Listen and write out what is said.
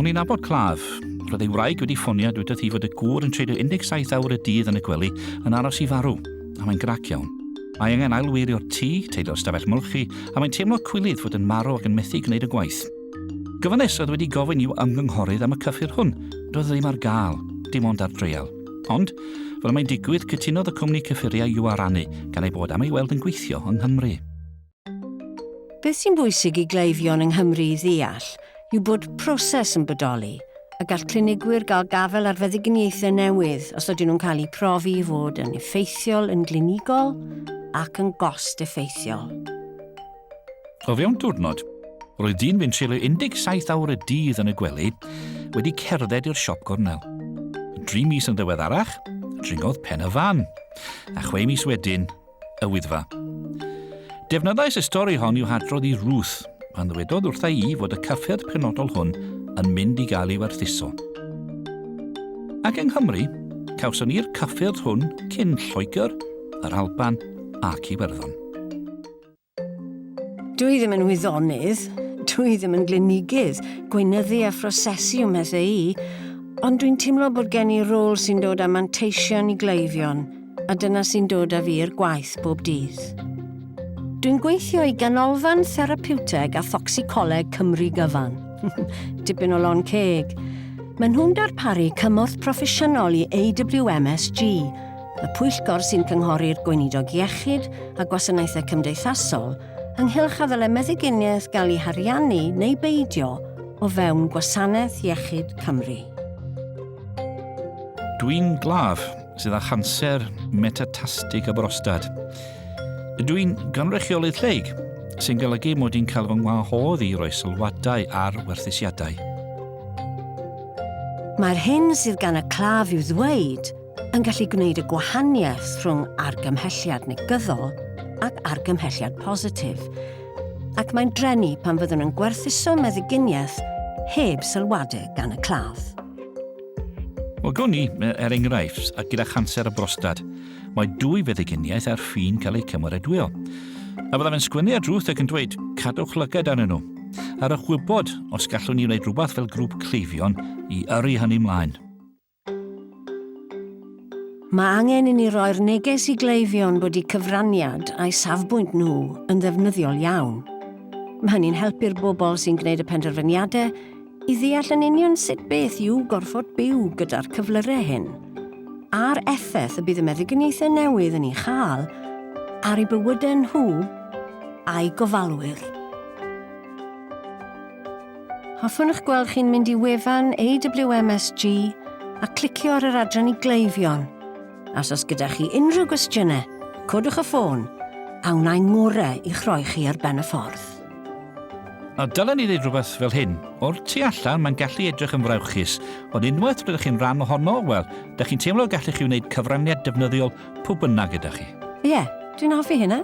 O'n i'n abod claf. Roedd ei wraig wedi ffonio a dweud hi fod y gŵr yn treulio 17 awr y dydd yn y gwely yn aros i farw, a mae'n grac iawn. Mae angen ailweirio'r tŷ, teilio'r stafell molchi, a mae'n teimlo cwilydd fod yn marw ac yn methu gwneud y gwaith. Gofynes oedd wedi gofyn i'w ymgynghorydd am y cyffur hwn. Doedd e ddim ar gael, dim ond ar dreial. Ond, fel y mae'n digwydd, cytunodd y cwmni cyffuriau i'w arannu, gan ei bod am ei weld yn gweithio yng Nghymru. Beth sy'n bwysig i gleifion yng Nghymru i ddeall yw bod proses yn bodoli, a gall clinigwyr gael gafael ar feddyginiaethau newydd os ydyn nhw'n cael eu profi i fod yn effeithiol yn glinigol ac yn gost-effeithiol. O fewn diwrnod, roedd dyn fu'n treulio 17 awr y dydd yn y gwely wedi cerdded i'r siop gornel. Dri mis yn ddiweddarach, dringodd pen y fan, a chwe mis wedyn, y Wyddfa. Defnyddais y stori hon i'w hadrodd i Ruth, pan ddywedodd wrtha i fod y cyffyrdd penodol hwn yn mynd i gael ei werthuso. Ac yng Nghymru, cawson ni'r cyffyrdd hwn cyn Lloegr, yr Alban ac Iwerddon. Dwi ddim yn wyddonydd, dwi ddim yn glinigydd, gweinyddu a phrosesu ym mhethau i, ond dwi'n teimlo bod gen i rôl sy'n dod â manteision i gleifion, a dyna sy'n dod â fi i'r gwaith bob dydd. Dwi'n gweithio i Ganolfan Therapiwteg a Thocsicoleg Cymru Gyfan. Dipyn o lon ceg. Maen nhw'n darparu cymorth proffesiynol i AWMSG, y pwyllgor sy'n cynghori'r Gweinidog Iechyd a Gwasanaethau Cymdeithasol ynghylch a ddylai meddyginiaeth gael ei hariannu neu beidio o fewn Gwasanaeth Iechyd Cymru. Dwi'n glaf sydd â chanser metatastig y brostad. Ydw i'n gynrychioli lleig, sy'n golygu mod i'n cael fy ngwahodd i roi sylwadau ar werthusiadau. Mae'r hyn sydd gan y claf i'w ddweud yn gallu gwneud y gwahaniaeth rhwng argymhelliad negyddol ac argymhelliad positif, ac mae'n drenu pan fyddwn yn gwerthuso meddyginiaeth heb sylwadu gan y claf. O gawn ni, er enghraifft, a gyda chanser y brostad, mae dwy feddyginiaeth ar ffin cael eu cymeradwyo. A byddaf yn sgwennu ar drwth ac yn dweud, cadwch lygad arnyn nhw. Ar y chwybod, os gallwn ni wneud rhywbeth fel grŵp cleifion i yrru hynny mlaen. Mae angen i ni roi'r neges i gleifion bod eu cyfraniad a'u safbwynt nhw yn ddefnyddiol iawn. Mae hynny'n helpu'r bobl sy'n gwneud y penderfyniadau i ddeall yn union sut beth yw gorfod byw gyda'r cyflyrau hyn, a'r effaith y bydd y meddyginiaethau newydd yn ei chael ar eu bywydau nhw a'u gofalwyr. Hoffwn eich gweld chi'n mynd i wefan AWMSG a clicio ar yr adran i gleifion. As os gyda chi unrhyw gwestiynau, codwch y ffôn a wna i'n ngorau i'ch rhoi chi ar ben y ffordd. A dylen i ddweud rhywbeth fel hyn, o'r tu allan mae'n gallu edrych yn frawychus, ond unwaith rydych chi'n rhan ohono, wel, da chi'n teimlo y gallech chi wneud cyfraniad defnyddiol pwy bynnag gyda chi. Ie, yeah, dwi'n hoffi hynna.